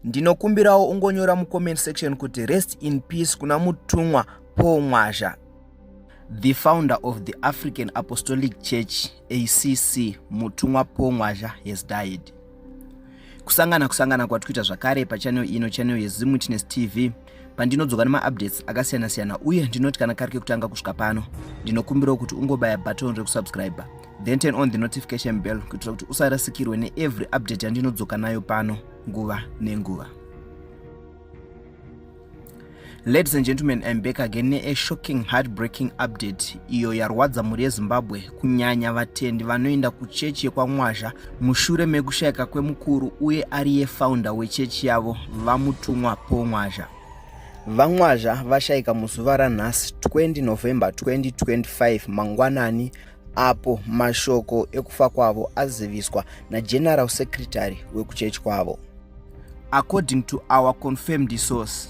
ndinokumbirawo ungonyora mucomment section kuti rest in peace kuna mutumwa paul mwazha the founder of the african apostolic church acc mutumwa paul mwazha has died kusangana kusangana kwatikuita zvakare pachanel ino chanel yezimwitness tv pandinodzoka nemaupdates akasiyana siyana uye ndinoti kana kari kekutanga kusvika pano ndinokumbirawo kuti ungobaya button rekusubscribe then turn on the notification bell kuitira kuti usarasikirwe neevery update yandinodzoka nayo pano nguva nenguva ladies and gentlemen im back again neashocking heartbreaking update iyo yarwadza mhuri yezimbabwe kunyanya vatendi vanoenda kuchechi yekwamwazha mushure mekushayika kwemukuru uye ariye faunda wechechi yavo vamutumwa paul mwazha vamwazha vashayika muzuva ranhasi 20 november 2025 mangwanani apo mashoko ekufa kwavo aziviswa nageneral secretary wekuchechi kwavo according to our confirmed source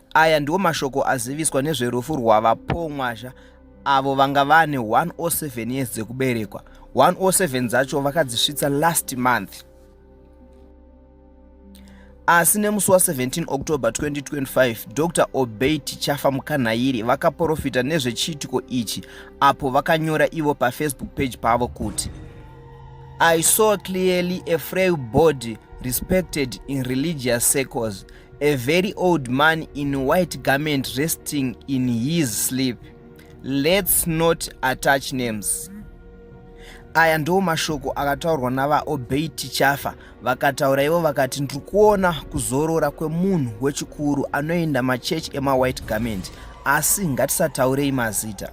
Aya ndiwo mashoko aziviswa nezverufu rwaVaPongwazha avo vanga vane 107 years dzekuberekwa 107 dzacho vakadzisvitsa last month asi nemusi wa17 october 2025 dr obey tichafa mukanhairi vakaprofita nezvechiitiko ichi apo vakanyora ivo pafacebook page pavo kuti i saw clearly a frail body respected in religious circles A very old man in white garment resting in his sleep. Let's not attach names. Aya ndiwo mashoko akataurwa navaobey tichafa vakataura ivo vakati ndiri kuona kuzorora kwemunhu wechikuru anoenda machechi emawhite garment asi ngatisataurei mazita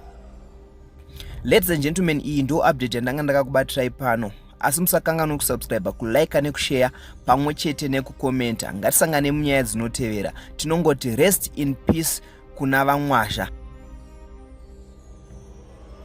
ladies and gentlemen iyi ndo update yandanga ndakakubatirai pano asi musakanganwe kusubscribe kulike nekushare pamwe chete nekukomenta ngatisangane munyaya dzinotevera tinongoti rest in peace kuna vamwazha